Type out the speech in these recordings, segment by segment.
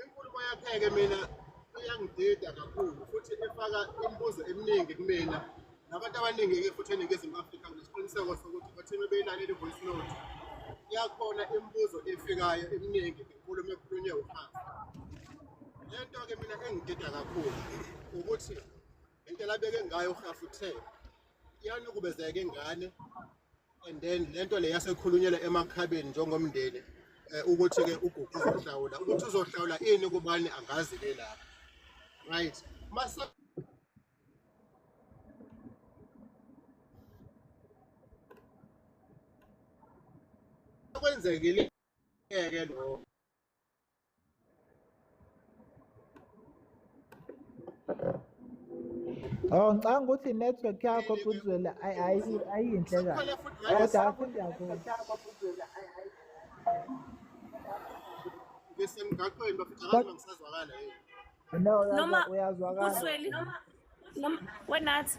Inkulumo yakhe-ke mina iyangidida kakhulu futhi ifaka imibuzo eminingi kumina nabantu abaningi-ke futhi eningizimu afrika nesiqiniseko sokuthi bathina beyilaleli i-voice note iyakhona imibuzo efikayo eminingi ngenkulumo ekhulunywe uhansi le nto-ke mina engidida kakhulu ukuthi indlela abeke ngayo uhafu uthe iyanukubezeka ingane and then lento le yasekhulunyelwe emakhabeni njengomndeni eh, ukuthi ke ugugu uzohlawula ukuthi uzohlawula ini kubani angazi ke lapha right masa kwenzekile ke lo Oh ngicanga ukuthi network yakho Phuthuzela ayi- ayi- ayinhle kahle Sikhona futhi kodwa right. hafu ngiyakuzwa Besemgaqweni bafika Kodwa- abantu bangisazwakala yini. no uyazwa- noma uyazwakala ubusweli noma wenathi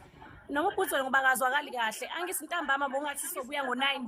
noma ubusweli ngoba akazwakali kahle angithi ntambama bongathi sobuya ngo-nine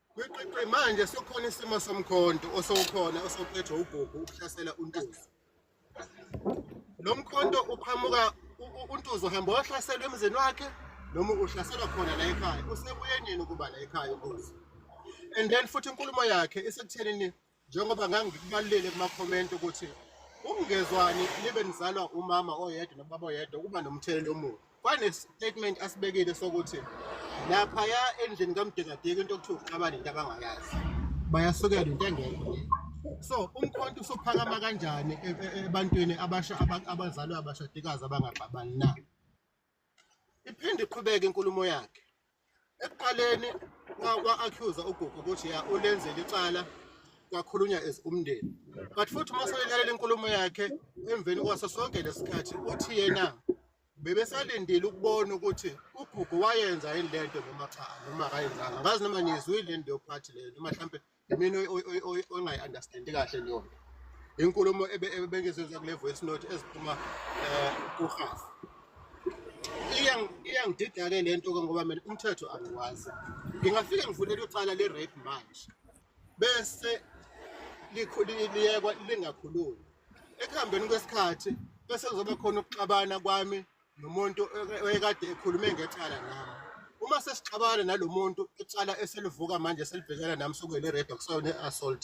Kwiqiqi manje sekukhona isimo somkhonto osowukhona osophethwe uGugu ukuhlasela uNtuzi. Lo mkhonto uqhamuka uNtuzi uhamba wahlaselwa emzini wakhe noma uhlaselwa khona la ekhaya. Usebuye nini ukuba la ekhaya uNtuzi? And then futhi inkulumo yakhe isekutheni njengoba ngangikubalulele kumakhomenti ukuthi ukungezwani libe nizalwa umama oyedwa nobaba oyedwa kuba nomthelela omubi kwane-statement asibekile sokuthi laphaya endlini kamdekadeki into okuthiwa uxabane into abangayazi bayasukela into engekho so umkhonto usuphakama kanjani e-, e-, ebantwini abasha abazalwa abashadikazi abangabhabani na Iphinde iqhubeke inkulumo yakhe. Ekuqaleni kwa-accusa uGugu ukuthi ya ulenzele icala kwakhulunywa as umndeni. But futhi uma selalela inkulumo yakhe emveni kwaso sonke lesikhathi uthi yena bebesalindile ukubona ukuthi uGugu wayenza yini lento noma cha noma akayenzanga. Ngazi noma nizwile into yophathi leyo noma mhlambe Mina ongayi understand kahle leyo nto. Inkulumo ebengizoza kule voice note eziphuma eh kuhafu. Iyang iyangidida ke lento ke ngoba mina umthetho angiwazi. Ngingafike ngivulele ucala le rape manje. Bese liyekwa lingakhulumi. Ekuhambeni kwesikhathi bese kuzoba khona ukuxabana kwami nomuntu oyekade ekhulume ngecala nami uma sesixabana nalo muntu icala eselivuka manje selibhekana nami sokuyile red okusayona i-assault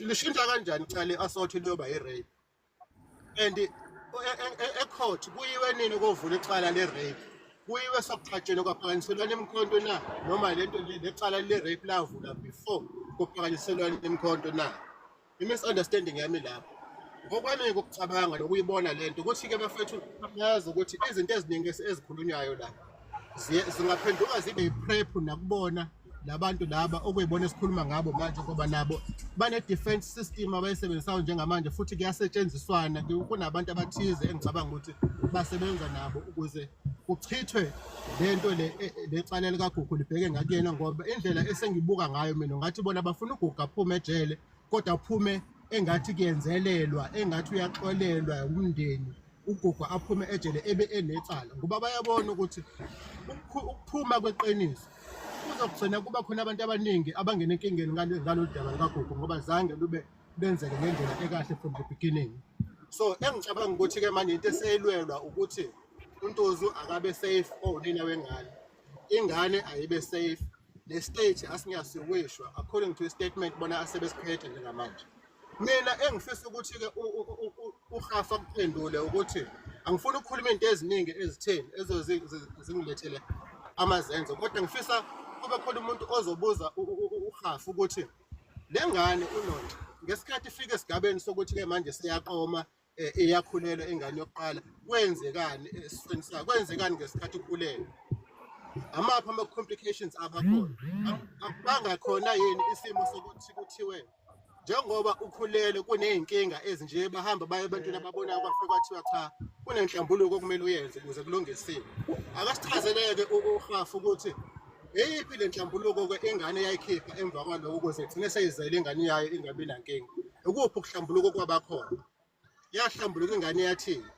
lishintsha kanjani icala i-assault liyoba i-rape and e, e, e, ecourt kuyiwe nini kovula icala le-rape kuyiwe sokuqhatsheni kwaphakanyiselwana imikhonto na noma le nto lecala le-rape lavula before kuphakanyiselwana imikhonto na I-misunderstanding yami lapho ngokwami ukucabanga nokuyibona le nto ukuthi-ke bafethu yazi ukuthi izinto eziningi ezikhulunywayo la zingaphenduka zibe yiprephu nakubona labantu laba okuyibona esikhuluma ngabo manje ngoba nabo bane-defense system abayisebenzisayo njengamanje futhi kuyasetshenziswana kunabantu abathize engicabanga ukuthi basebenza nabo ukuze kuchithwe lento le e, e, lecala likagugu libheke ngakuyena ngoba indlela esengibuka ngayo mina ngathi bona bafuna ugugu aphume ejele kodwa aphume engathi kuyenzelelwa engathi uyaxolelwa umndeni ugugu aphume ejele ebe enecala ngoba bayabona ukuthi ukuphuma kweqiniso kuzogcina kuba khona abantu abaningi abangena enkingeni ngalolu daba lukagugu ngoba zange lube benzeke ngendlela ekahle from the beginning so engicabanga ukuthi-ke manje into eseyilwelwa ukuthi untozu akabe safe owunina oh, wengane ingane ayibe safe le state asingiyasiwishwa according to i-statement bona asebesiphethe njengamanje mina engifisa ukuthi-ke uhafa kuphendule ukuthi angifuni ukukhuluma into eziningi ezitheni ezozingilethele amazenzo kodwa ngifisa kube khona umuntu ozobuza uhafa ukuthi Le ngane uNonca ngesikhathi ifika esigabeni sokuthi-ke manje seyaqoma eh, iyakhulelwa ingane yokuqala kwenzekani esifeni sayo kwenzekani ngesikhathi ukhulelwe amaphi ama-complications abakhona bangakhona yini isimo sokuthi kuthiwe njengoba ukhulele kuney'nkinga ezinje bahamba baye ebantwini ababonayo kwafike kwathiwa cha kunenhlambuluko okumele uyenze ukuze kulungisile akasichazeleke uhafu ukuthi Eyiphi le nhlambuluko-ke ingane yayikhipha emva kwaloko ukuze igcine seyizele ingane yayo ingabi nankinga? Ukuphi ukuhlambuluko kwabakhona? Yahlambuluka ingane yathini?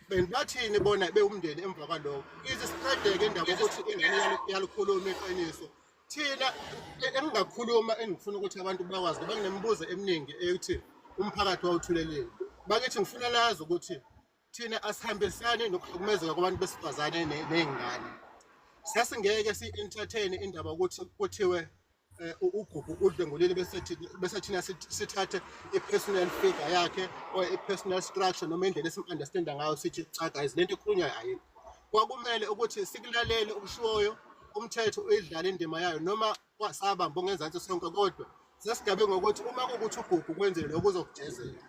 Beni bathini bona bewumndeni emva kwaloko? Ize siqedeke indaba ukuthi ingane yalukhuluma iqiniso. Thina engingakhuluma engifuna ukuthi abantu bakwazi ngoba nginemibuzo eminingi eyokuthi umphakathi wawuthuleleni. Bakithi ngifuna lazi ukuthi thina asihambisani nokuhlukumezeka kwabantu besifazane ne- ney'ngane sasingeke si-entertain indaba ukuthi kuthiwe eh, u- ugugu udlwengulile bese thi- bese thina sit- sithathe i-personal figure yakhe or i-personal structure noma indlela esim-understanda ngayo sithi cha guys le nto ikhulunywayo ayini kwakumele ukuthi sikulalele okushiwoyo umthetho uyidlale indima yayo noma kwasaba mbongezansi sonke kodwa sesigabe ngokuthi uma kukuthi ugugu kwenzile lokho uzokujezela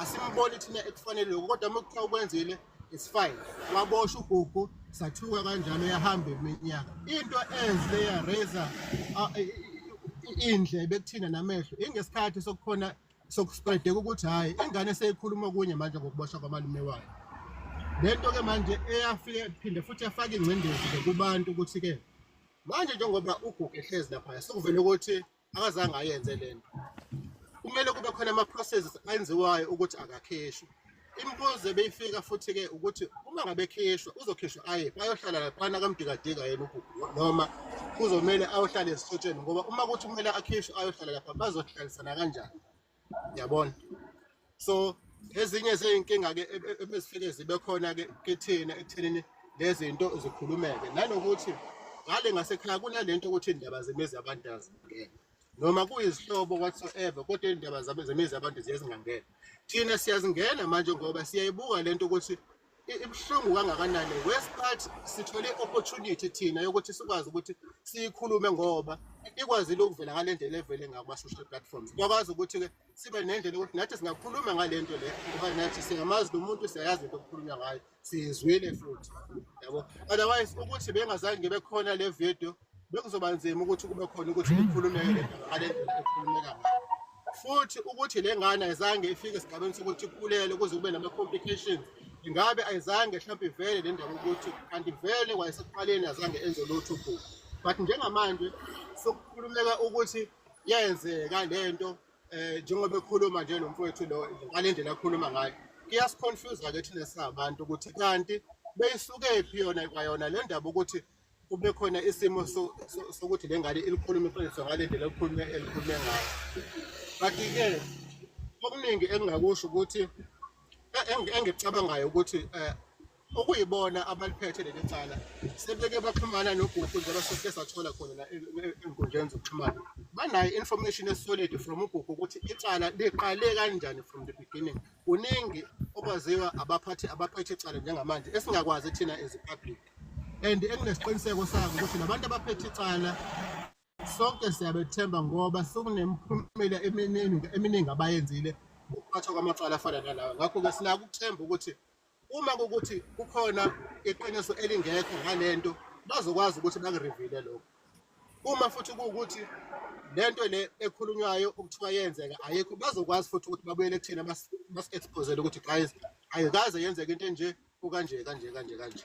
asimboni thina ekufanele lokho kodwa uma kuthiwa ukwenzile it's fine wabosha ugugu sathuka kanjalo yahamba iminyaka into enhle yaraza indle bekuthina namehlo ingesikhathi sokukhona sokuspreadeka ukuthi hhayi ingane seyikhuluma kunye manje ngokuboshwa kwamalume wayo le nto-ke manje eyafike phinde futhi yafaka ingcindezi-ke kubantu ukuthi-ke Manje njengoba uGugu ehlezi laphaya sekuvele ukuthi akazange ayenze le nto. Kumele kube khona ama-processes enziwayo ukuthi akakhishwe. Imibuzo ebeyifika futhi-ke ukuthi uma ngabe ekhishwa uzokhishwa aye bayohlala laphana kamdikadika yena uGugu noma kuzomele ayohlala ezihlotsheni ngoba uma kuthi kumele akhishwe ayohlala lapha bazohlalisana kanjani yabona so ezinye zeyinkinga ke e, e, ebesifike zibe khona ke kithina ekuthenini lezinto zikhulumeke nanokuthi ngale ngasekhaya kunalento ukuthi indaba zemizi abantu azingene noma kuyizihlobo whatsoever kodwa indaba zemizi abantu ziyazingangena thina siyazingena manje ngoba siyayibuka lento ukuthi ibuhlungu kangakanani worst part sithole opportunity thina yokuthi sikwazi ukuthi siyikhulume ngoba ikwazile ukuvela ngale ndlela evele ngakuma-social platforms kwakwazi ukuthi-ke sibe nendlela yokuthi nathi singakhuluma ngale nto le ngoba nathi singamazi lo muntu siyayazi into okukhulunywa ngayo siyizwile futhi yabo otherwise ukuthi bengazange bekhona le video bekuzoba nzima ukuthi kube khona ukuthi likhulumeke le nto ngale ndlela ekhulumeka ngayo futhi ukuthi le ngane ayizange ifike esigabeni sokuthi ikhulele kuze kube nama-complications ingabe ayizange mhlawumbe ivele le ndaba ukuthi kanti vele kwayesekuqaleni azange enze lutho ubhuku but njengamanje sokukhulumeka ukuthi yenzeka le nto um eh, njengoba ekhuluma nje lo mfowethu lo ngale ndlela akhuluma ngayo kuyasiconfuse-ke thina singabantu ukuthi kanti beyisukephi yona kwayona le ndaba ukuthi kube khona isimo sokuthi le ngane ilikhulume iqiniso ngale ndlela elikhulume elikhulume ngayo kanti-ke okuningi engingakusho ukuthi engicabangayo ukuthi um okuyibona abaliphethe leli cala sebeke baxhumana nogugu njengoba sesike sathola khona la enkundleni zokuxhumana banayo information esolid from ugugu ukuthi icala liqale kanjani from the beginning kuningi okwaziwa abaphathi abaphethe icala njengamanje esingakwazi thina as public and enginesiqiniseko sako ukuthi labantu abaphethe icala sonke siyabethemba ngoba sokunemiphumela eminingi eminingi abayenzile ukuphathwa kwamacala afana nalawa ngakho-ke sinako ukuthemba ukuthi uma kukuthi kukhona iqiniso elingekho ngale nto bazokwazi ukuthi bakurivile lokho uma futhi kuwukuthi le nto le ekhulunywayo okuthiwa yenzeka ayikho bazokwazi futhi ukuthi babuyele kuthina basi-expozele ukuthi guys ayikaze yenzeka into enje Kukanje kanje kanje kanje.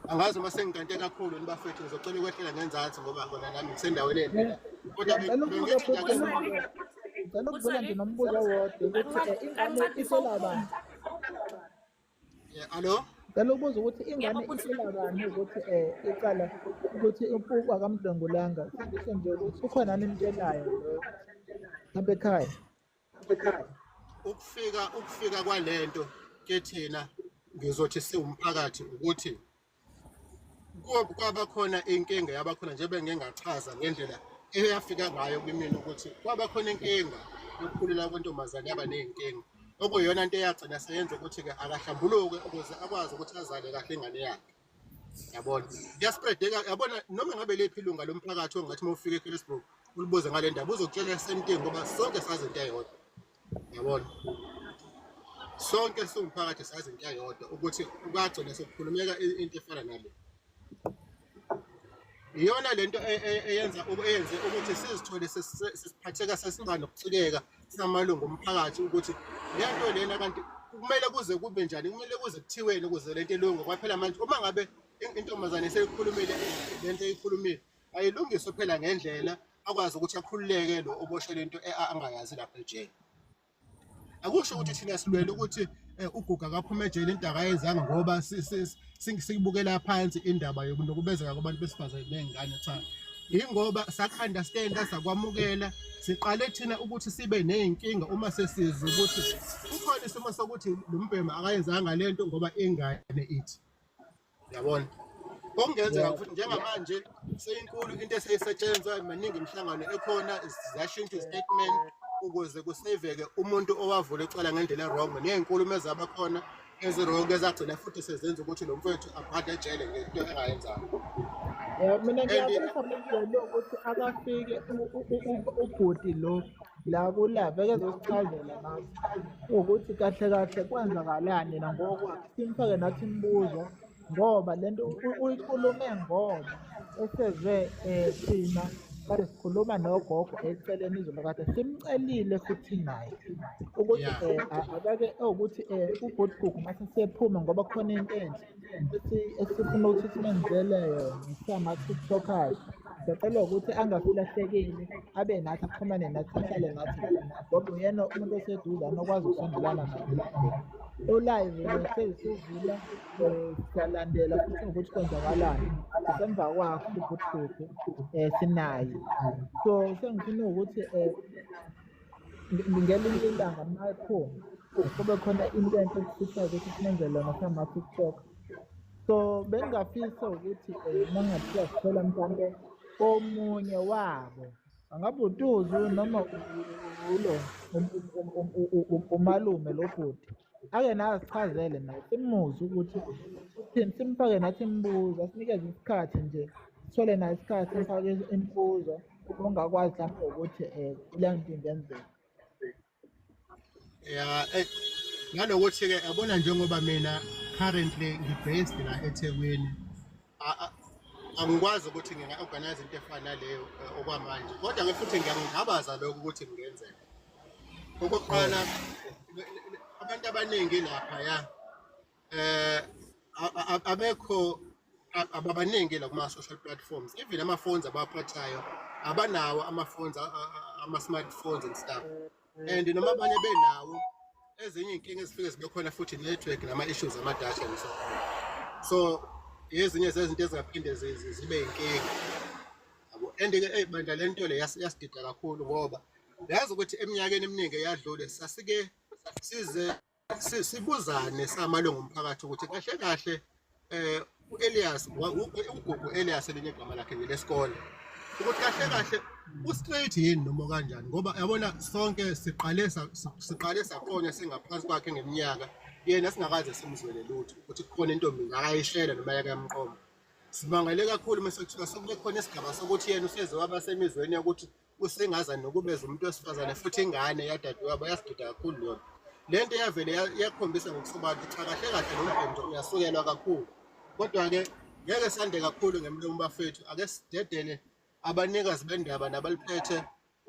Angazi uma sengikante kakhulu nibafethu ngizocela ukwehlela ngenzansi ngoba kona nami ngisendaweni endlela. Kodwa bengithi ngake Ngicela ukubona nje nombuzo wodwa ukuthi eh, ingane ifela bani? Yeah, hello. Ngicela ukubuza ukuthi ingane ifela bani ukuthi eh iqala ukuthi uMpuku akamdlwengulanga. Sindise nje ukuthi ukhona nimtshelayo lo. Hamba ekhaya. ukufika ukufika kwalento ke thina ngizothi siwumphakathi ukuthi kwaba khona inkinga yaba khona njengoba ngingachaza ngendlela eyafika ngayo kumina ukuthi kwaba khona inkinga yokukhulula kwentombazane yaba nezinkinga okuyona into eyagcina seyenza ukuthi ke akahlambuluke ukuze akwazi ukuthi azale kahle ingane yakhe yabona kuyaspreadeka yabona noma ngabe lephi ilunga lomphakathi ongathi uma ufika eKelesburg ulibuze ngale ndaba uzokutshela esentini ngoba sonke sazi into eyodwa yabona sonke siwumphakathi sazi into eyodwa ukuthi kwagcina sekukhulumeka into efana nale iyona lento e, e, eyenza eyenze ukuthi sizithole sesiphatheka sesimba nokucikeka singamalungu omphakathi ukuthi le nto lena kanti kumele kuze kube njani kumele kuze kuthiweni ukuze le nto ilunge kwaphela manje uma ngabe intombazane seyikhulumile le nto eyikhulumile ayilungiswe phela ngendlela akwazi ukuthi akhululeke lo oboshwe le nto angayazi lapha ejele akusho ukuthi thina silwele ukuthi Eh, uguga akaphuma ejele into akayenzanga ngoba sikubukela phansi indaba yokunukubezeka kwabantu besifazane ney'ngane cha yingoba sa-understanda sakwamukela siqale thina ukuthi sibe ney'nkinga uma sesizi ukuthi kukhona isimo sokuthi lo mbhema akayenzanga le nto ngoba ingane ithi yabona okungenzeka futhi njengamanje seyinkulu into eseyisetshenzwa maningi imihlangano ekhona ziyashintsha istatement ukuze kuseveke umuntu owavula icala ngendlela erong nezinkulumo ezabakhona ezirongo ezagcina futhi sezenza ukuthi lo mfowethu aphathe ejele ngento engayenzanga mina ngiyabona ukuthi akafike ubhuti lo la kula bekezosichazela nathi ukuthi kahle kahle kwenzakalani yena ngokwakhe simfake nathi imibuzo ngoba le nto uyikhulume ngoba eseze um thina kade sikhuluma nogogo eceleni izolo kade simcelile futhi naye ukuthi um akake ewukuthi um ubhutigugu mase sephuma ngoba khona into enhle esifuna ukuthi simenzele yona sama-tiktokers sicela ukuthi angasilahlekeli abe nathi axhumane nathi ahlale nathi ngoba uyena umuntu oseduze anokwazi ukusondelana nathi olive seyisivula um siyalandela futhi ngokuthi kwenzakalani sisemva kwakho ukuthi kuphi um sinaye so sengifuna ukuthi um ngelinye ilanga mayiphuma kube khona into enhle ekufihlayo ukuthi sinenze lona sama-tiktok so bengingafisa ukuthi um eh, mangathiwa sithola mhlawumpe omunye wabo angabe utuzu noma ulo um, um, um, umalume lo bhuti ake naye sichazele naye simuze ukuthi uthini simfake nathi imibuzo asinikeze isikhathi nje sithole naye isikhathi sifake imibuzo ongakwazi lapho ukuthi um le nto ingenzeka ya eh, nanokuthi-ke yabona njengoba mina currently ngi-based la ethekwini angikwazi ukuthi nginga-organize into efana naleyo eh, okwamanje kodwa nge futhi ngiyangingabaza lokho ukuthi kungenzeka okokuqala abantu abaningi lapha ya eh abekho ababaningi la kuma social platforms even ama phones abaphathayo abanawo ama phones ama smartphones and stuff and noma abanye benawo ezinye inkinga ezifike zibe khona futhi network nama issues ama data and so so ezinye zezinto ezingaphinde zibe inkinga yabo and ke hey bandla lento le yasidida kakhulu ngoba yazi ukuthi eminyakeni eminingi eyadlule sasike size sibuzane samalungu omphakathi ukuthi kahle kahle eh uElias ugugu Elias elinye igama lakhe ngelesikole ukuthi kahle kahle ustraight yini noma kanjani ngoba yabona sonke siqale siqale saqonya singaphansi kwakhe ngeminyaka yena singakaze simzwele lutho ukuthi kukhona intombi ngakayishela noma yake yamqoma simangale kakhulu mase kuthiwa sekube khona isigaba sokuthi yena useze waba semizweni yokuthi usengaza nokubeza umuntu wesifazane futhi ingane yadadewabo yasiduda kakhulu lona le nto yavele yakhombisa ngokusobala ukuthi cha kahle kahle lo mbhemdo uyasukelwa kakhulu kodwa-ke ngeke sande kakhulu ngemlomo bafethu ake sidedele abanikazi bendaba nabaliphethe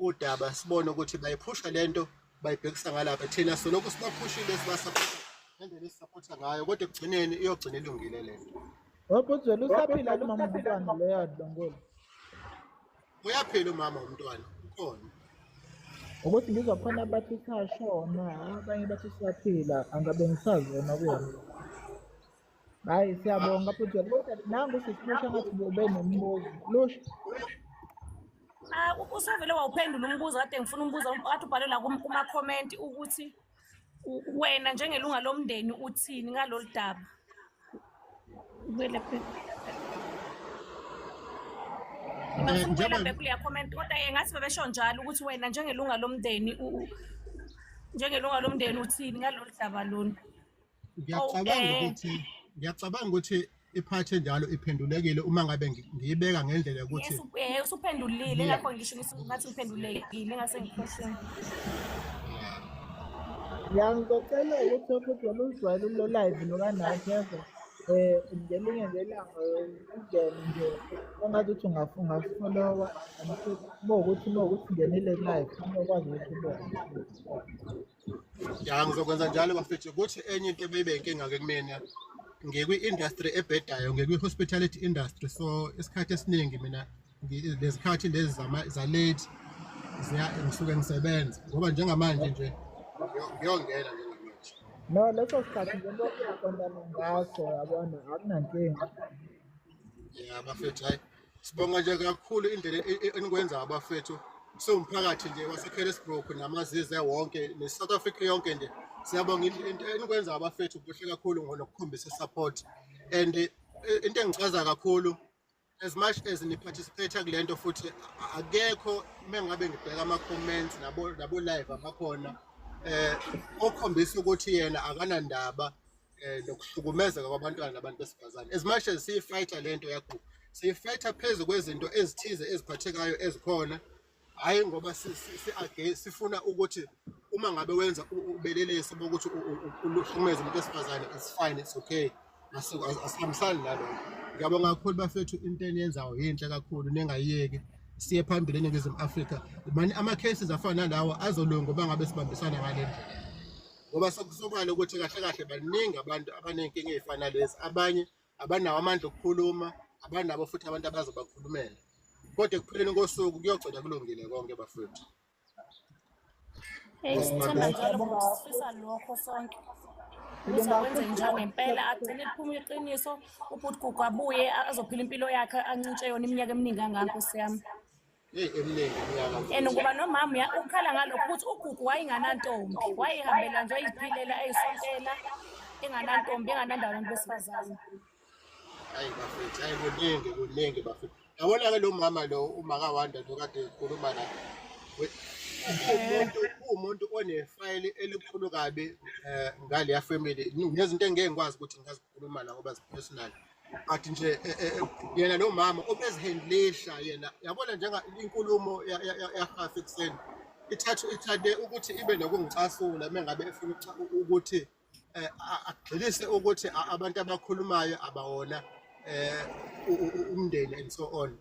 udaba sibone ukuthi bayiphusha le nto bayibhekisa ngalapha thina solokhu sibaphushile sibasaphusha ngendlela esisaphutha ngayo kodwa ekugcineni iyogcina ilungile le nto Wabuzwela usaphila lomama umntwana leyo adlongolo. Uyaphila umama womntwana ukhona. Ukuthi ngizwa khona abathi sashona, abanye bathi siyaphila, angabe ngisazona kuyona. Hayi siyabonga futhi kodwa nangu sisilusha ngathi ube nombuzo. Lusha. Ah, usuvele wawuphendula umbuzo kade ngifuna umbuzo kade ubhale la kuma-comment ukuthi wena njengelunga lomndeni uthini ngalolu daba ngibuyela eh, bekuleya comment kodwa ye ngathi bebesho njalo ukuthi wena njengelunga lomndeni njengelunga lomndeni uthini ngalolu daba lona ngiyacabanga ukuthi ngiyacabanga ukuthi iphathe njalo iphendulekile uma ngabe ngiyibeka ngendlela yokuthi eh, usuphendulile lapho ngisho ngathi uphendulekile ngase ngikhohleni ngiyangicocela ukuthi futhi wena uzijwayele ulo live nokanathi yezwa eh ngelinye ngelanga ungene nje ongathi uthi ungafunga followa uma ukuthi uma ukuthi ungenile live uma ukwazi ukuthi ubone ya ngizokwenza njalo bafethu kuthi enye into ebeyibe inkinga-ke kumina ngikwi-industry ebhedayo ngikwi-hospitality industry so isikhathi esiningi mina lezikhathi lezi zalate ngisuke ngisebenza ngoba njengamanje nje ngiyongena nje no leso sikhathi ngento aqondana ngaso yabona akunankinga ya bafethu hayi Sibonga nje kakhulu indlela e- e- enikwenza abafethu siwumphakathi nje waseKelesbrook namazize wonke ne-South Africa yonke nje siyabonga indle- into enikwenza abafethu kuhle kakhulu ngonokukhombisa support and eh, into engichaza kakhulu as much as niparticipate kule nto futhi a- akekho uma ngabe ngibheka ama-comments nabo- nabo-live abakhona eh okhombisa ukuthi yena akanandaba eh nokuhlukumezeka kwabantwana nabantu besifazane as much as siyifighter lento yagugu siyifighter phezu kwezinto ezithize eziphathekayo ezikhona hayi ngoba sifuna ukuthi uma ngabe wenza ubelelesi bokuthi uhlukumeza umuntu wesifazane it's fine it's okay asihambisani nalokho ngiyabonga kakhulu bafethu into eniyenzayo yinhle kakhulu ningayiyeki siye phambili eningizimu afrika mani ama-cases afana nalawo azolunga uba ngabe sibambisana ngale ndlela ngoba sokusobala ukuthi kahle kahle baningi abantu abanenkinga ey'fana lezi abanye abanawo amandla okukhuluma abanabo futhi abantu abazobakhulumela kodwa ekupheleni kosuku kuyogcina kulungile konke bafethu Hey, sithemba njalo ukuthi sifisa lokho sonke. Ukuthi akwenze njalo ngempela agcine liphuma iqiniso ubhuti gugu abuye azophila impilo yakhe ancintshe yona iminyaka eminingi kangaka nkosi yami. and ngoba nomama ya ukhala ngalokho ukuthi ugugu wayenganantombi wayehambela nje ayiphilela ayisontela enganantombi enganandaba abantu besifazane hayi bafethu hayi kuningi kuningi bafethu yabona-ke lo mama lo umakawanda lo kade ekhuluma la umuntu uwumuntu onefayili elikhulu kabi um ngaleya family nezinto engeke ngikwazi ukuthi ngingazikhuluma la ngoba zi-personal but nje eh, eh, eh, yena lo mama obezihendlisha yena yabona njenga inkulumo yahafa ekuseni ithathu ithande ukuthi ibe nokungicasula mengabe efuna ukuthi agxilise ukuthi abantu abakhulumayo abawona umndeni and so on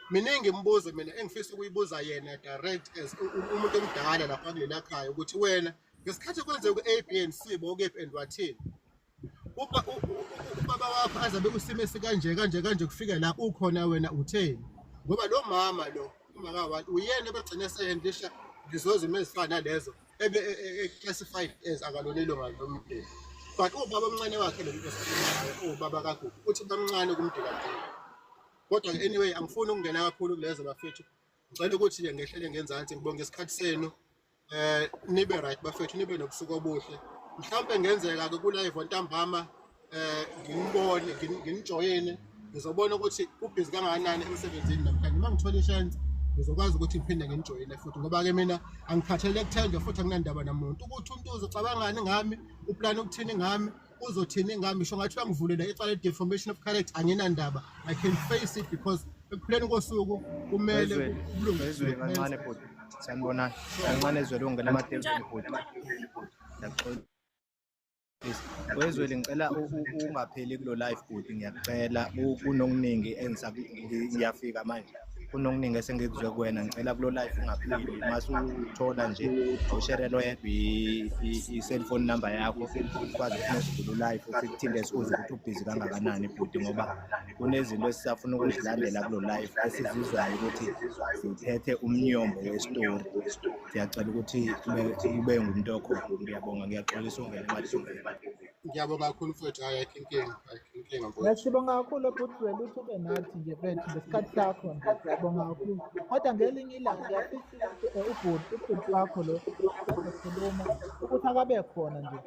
miningi imibuzo mina engifisa ukuyibuza yena direct as umuntu omdala lapha kulelakhaya ukuthi wena ngesikhathi kwenzeka ku-a b and c bokephi and wathini ubaba wakho aze abe kusimo esikanje kanje kanje kufike la ukhona wena utheni ngoba lo mama lo umaka wathi uyena ebegcine eseyendisha ngizoze uma ezifana lezo ebe e, e, e, classified as akalona ilunga lomndeni but ubaba omncane wakhe lo muntu ubaba kagugu uthi bamncane kumdela kodwa anyway angifuni ukungena kakhulu kulezo bafethu ngicela ukuthi-ke ngehlele ngenzansi ngibonge isikhathi senu eh nibe right bafethu nibe nobusuku obuhle mhlawumbe ngenzeka ke kulive ontambama eh ngimbone nginijoyine ngizobona ukuthi ubhizi kangakanani emsebenzini namhlanje uma ngithola ishance ngizokwazi ukuthi ngiphinde nginijoyine futhi ngoba ke mina angikhathele kuthenjwa futhi anginandaba namuntu ukuthi umuntu uzocabangani ngami uplane ukuthini ngami uzothini ngami sho ngathi uyangivulela icala deformation of character anginandaba i can face it because ekuphuleni kosuku kumele kulungiswe kancane bhuti sanibonani kancane ezwele ungena amatenzweni bhuti ngiyaxolisa wezwele ngicela ungapheli kulo live bhuti ngiyakucela kunokuningi engiyafika manje kunokuningi esengikuzwe kuwena ngicela kulo life ungaphili mase uthola nje usherelo yedwa i-cellphone number yakho ukwazi ukunesizulu kulo life futhi kuthinte sikuze ukuthi ubhizi kangakanani bhuti ngoba kunezinto esisafuna ukuzilandela kulo life esizizwayo ukuthi ziphethe umnyombo wesitori siyacela ukuthi ube ngumuntu okhona ngiyabonga ngiyaxolisa ungene Ngiyabonga kakhulu mfowethu hayi ayikho inkinga ayikho inkinga mfowethu. Ngasibonga kakhulu bhuti wena ukuthi ube nathi nje mfethu ngesikhathi sakho nje ngiyabonga kakhulu. Kodwa ngelinye ilanga ngiyafisa ukuthi eh, ubhuti ubhuti wakho lo ekhuluma ukuthi akabe khona nje.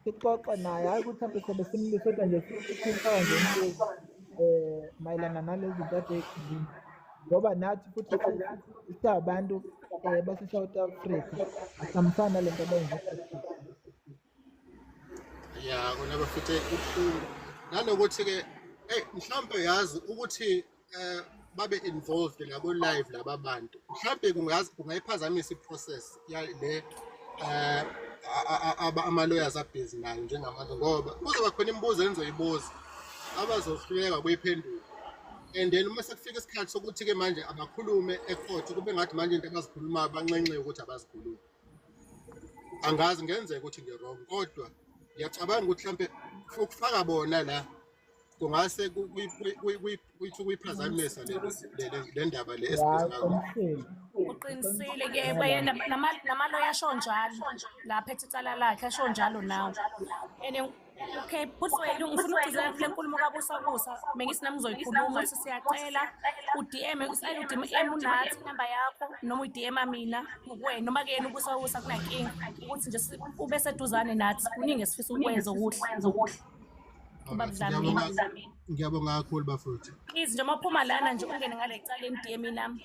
Sixoxe naye hayi ukuthi mhlawumbe sobe simlise kodwa nje sithintayo nje umbuzo eh mayelana nalezi zinto ade ekhuluma. Ngoba nathi futhi siyabantu eh base South Africa asamfana lento abayenza. ya kona bafethe ubuhlungu nanokuthi-ke eyi mhlawumpe yazi ukuthi um babe involved ngabo live laba bantu mhlawumpe kungayiphazamisa i-process le um ama-lawyers abhizi nayo njengamanje ngoba kuzoba khona imibuzo engizoyibuza abazohluleka kuyiphendula and then uma sekufika isikhathi sokuthi-ke manje abakhulume ekhotho kube ngathi manje into abazikhulumayo banxenxe ukuthi abazikhulumi angazi ngenzeka ukuthi ngirong kodwa ngiyacabanga ukuthi mhlampe ukufaka bona la kungase kuyiphazamisa le ndaba le uqinisile ke namaloya asho njalo lapha ethi icala lakhe asho njalo nawe Okay, bhuti wethu ngifuna ukugcizelela kule nkulumo kabusabusa bengithi nami ngizoyikhuluma ukuthi siyacela udm usale udm unathi inamba yakho noma udm mina kuwena noma kuyena ubusabusa kunankinga ukuthi nje ube seduzane nathi kuningi esifisa ukwenza okuhle ngiyabonga kakhulu bafowethu please nje uma uphuma lana nje ungene ngale cala emdm nami